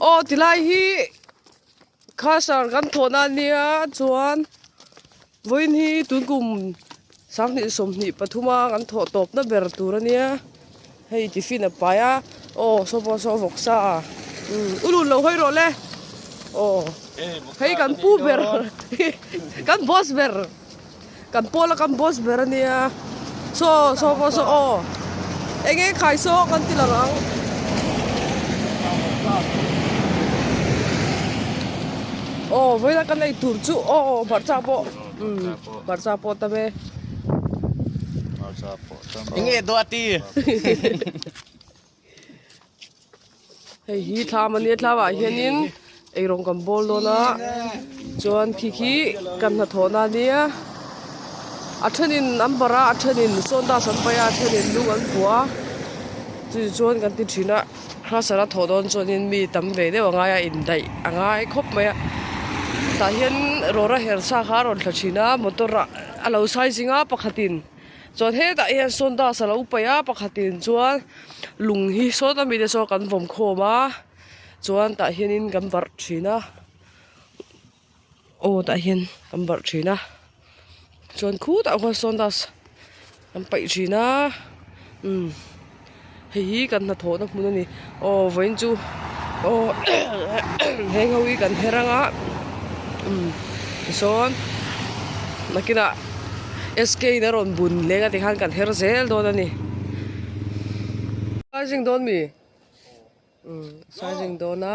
Aw ti lai hi khasar kan thawh na nia chuan vawiin hi tunkum sang hnih sawm hnih pathum a kan thawh tawp na ber tur a nia hei tiffin a pai a aw saw pawh saw vawk sa a u lut lo hawi rawh le aw hei kan pu ber kan boss ber. Kan pawl a kan boss ber ania so so pawh saw aw eng eng khai saw kan ti lang ang. Aw vawiina kan ei tur chu aw aw hmarcha pawh umm hmarcha pawh tam e. Hmarcha pawh tam e. Enge duati. hei hi thlam a nia thlamah hianin eirawng kan bawl dawn a chuan khi khi kan hna thawh na nia a thenin an bar a a thenin sawn das an paih a a thenin lung an bua a chu ti chuan kan ti thin a khrasa la thawh dawn chuanin mi tam ve deuh a ngai a indaih a ngai khawp mai a tah hian rawra her sa kha a rawn thla thin a motor a lo sai zing a pakhat in. Chuan hetah hian Sawndas a lo paih a, pakhatin chuan lung hi saw ta mite saw kan vawm khawm a, chuan tah hianin kan varh thin a, aw tah hian kan varh thin a, chuan khutah khuan Sawndas kan paih thin a, umm. Hei hi kan hnathawhna hmun a ni. Aw vawiin chu aw he ho hi kan her ang a, tichuan nakinah SK in a rawn bun leng a tikhan kan her zel dawn a ni. Sai zing dawn mi? Sai zing dawn a.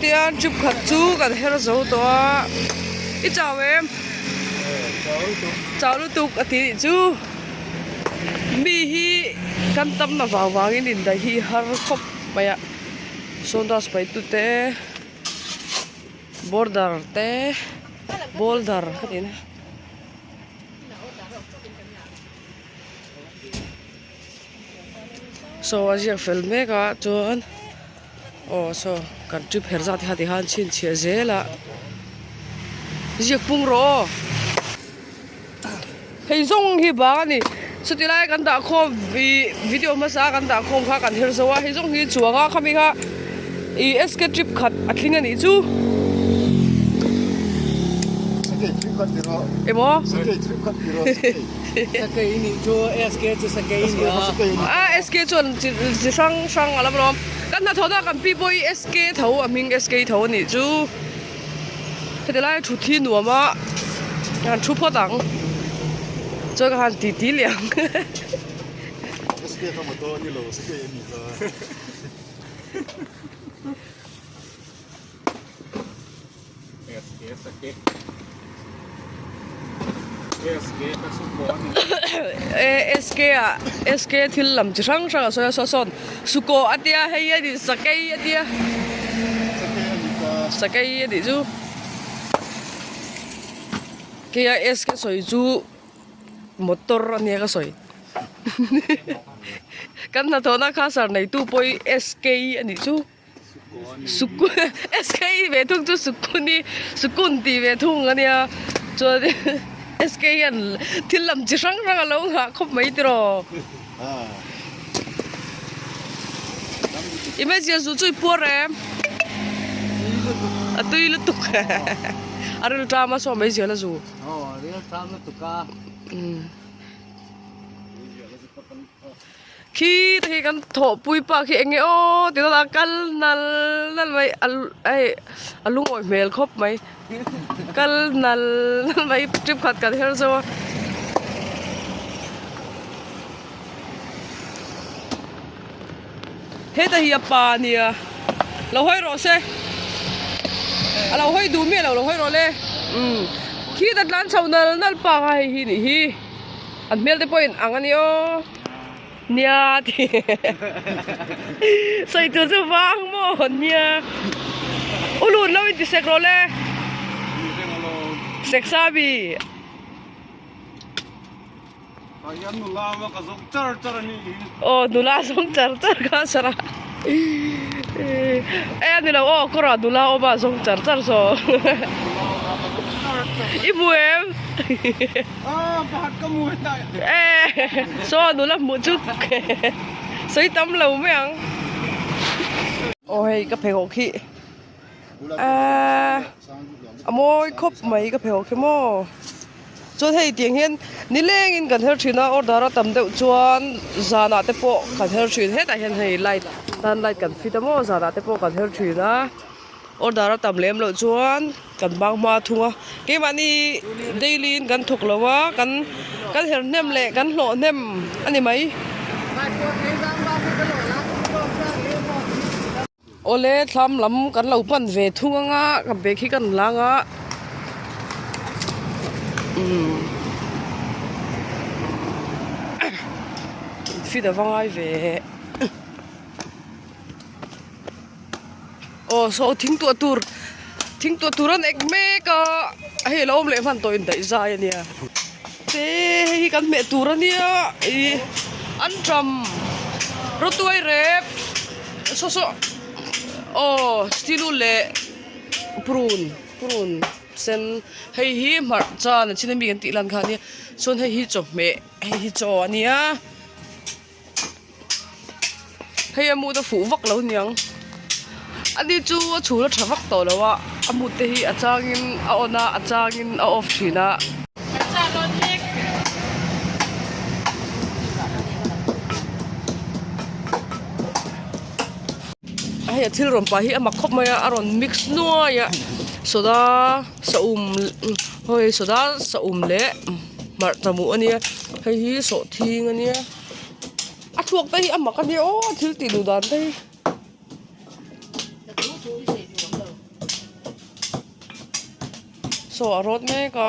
Tiang chup khat chu kan her zo tawh a, i chau em? Chau lutuk a tih chu mi hi kan tam na vang vang in in daih hi har khawp mai a, sawndas paihtu te. Border te boulder ka tih na. Saw a ziak fel mek a chuan aw saw kan ṭi pher zat hi hati hian chhinchhiah zel a ziak pung rawh aw. Hei zawng hi bang a ni. Chuti lai kan dahkhawm ih video hmasa kan dahkhawm kha kan her zo a, hei zawng hi chuanga khami kha ih SK trip khat a tling a nih chu. Sakei trip khat ti rawh. Emaw? Sakei trip khat ti rawh, sakei. Sakei i nih chu, SK chu sakei i nia. SK kha sakei i nia. A SK chuan chi chi hrang hrang a la vawm. Kan hnathawhna kan pi pawh hi SK tho a hming SK tho a nih chu. Heti lai thut hi nuam a han thu phawt ang chuan ka han titi leh ang he. SK ah SK thil lam chi hrang hrang a sawi a saw sawn sukaw a tia hei hi a ni sakei a tia sakei a nih chu kei a SK sawi chu motor a nia ka sawi kan hnathawhna kha sir neitu pawh hi SK a nih chu. SK i ve thung chu Sukun i Sukun tih ve thung a nia. Chuan SK hian thil lam chi hrang hrang a lo nghah khawp mai tih rawh. I hmeichhia zu chu i puar em? A tui lutuk. A ril ṭam a saw mai ziah la zu. Aw a ril ṭam lutuk a. Khi te khi kan thawhpui pa khi eng nge aw ti dawt a kal nal nal mai hei a lungawi hmel khawp mai kal nal nal mai trip khat kan her zo a heta hi a pa nia lo hawi rawh se a lo hawi duh miah lo lo hawi rawh le um khi ta tlan chho nal nal panga hei hi nih hi. An hmel te pawhin ang a ni aw nia ti sawi tur chu vang maw hawn nia u lut lo in ti sek rawh le sek sa mi aw nula zawng char char kha sara. Ei a nilo aw kawr ah nula awm a zawng char char saw i hmu em aw pakhat ka hmu heta eh saw nula hmuh chu sawi tam lo mai ang aw hei ka pheikhawk hi. Ahh a mawi khawp mai ka pheu khe maw chuan hei tiang hian ni lengin kan her thin a order a tam deuh chuan zanah te pawh kan her thin hetah hian hei light tan light kan fit a maw zanah te pawh kan her thin a order a tam lem loh chuan kan bang hma thung a keimahni daily in kan thawk lo a kan kan her hnem leh kan hlawh hnem a ni mai. Awle tlam lam kan lo pan ve thung ang a, kan bag hi kan la ang a, kan fit a va ngai ve e. Aw saw thing tuah tur, thing tuah tur an ek mek a, hei a lo awm leh hman tawh in daih zai a nia. Te hi kan hmeh tur a nia ih an ṭam rutuai rep saw saw aw stilu leh purun purun sen hei hi hmarh chan a chhin a mi kan tih lan kha ania chuan hei hi chawhmeh hei hi chaw a nia. hei a mut a fuh vak lo niang ani chu a chhun a tha vak tawh lo a a mut te hi a changin a on a a changin a off thin a hei a thil rawn pah hi a mak khawp mai a a rawn mix nuai a soda-- Sawhum hawi saw dal sawhum leh hmarh ta hmuh a nia hei hi sawh thing a nia a thluak te hi a mak a nia aw thil tih duh dan te hi. Sawh a rawt mek a.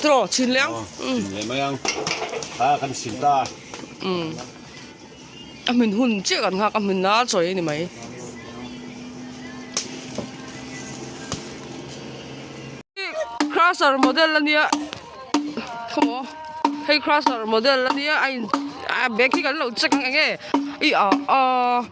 Tro chhin leh ang. Chhin leh mai ang. Kha kan sin ta. Um. A hmin hun chiah kan nghak a hmin la chawi ani mai. Crusher model ania. Come on. Hey crusher model ania. I back hi kan lo check ang enge. I a a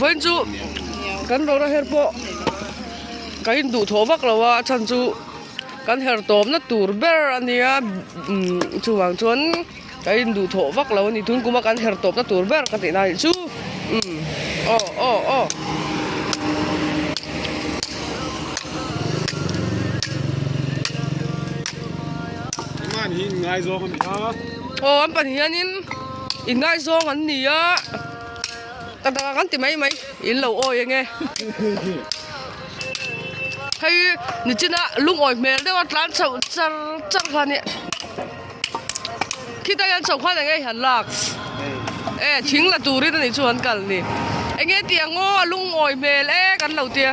vawiin chu kan rawra her pawh ka induh thawh vak lova a chhan chu kan her tawpna tur ber a nia chuvang chuan ka induh thawh vak lo a ni tunkuma kan her tawpna tur ber ka tih lai chu aw aw aw aw an pahnih hianin. Ingaizawng an ni a, ka dangah kan ti mai mai, in lo awi eng e. Hei Nichina lungawi hmel deuha tlan chho char char kha nia. Khita hian chho khan eng e han lak? E, thing la turin a nih chu han kal ni. Eng e ti ang aw, a lungawi hmel e kan lo tia.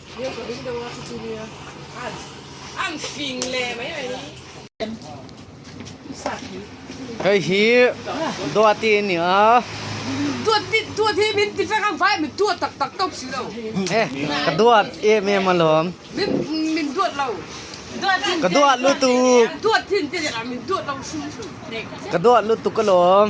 Hei hi Duati a ni a. Eh ka duat em em alawm. Ka duat lutuk. Ka duat lutuk alawm.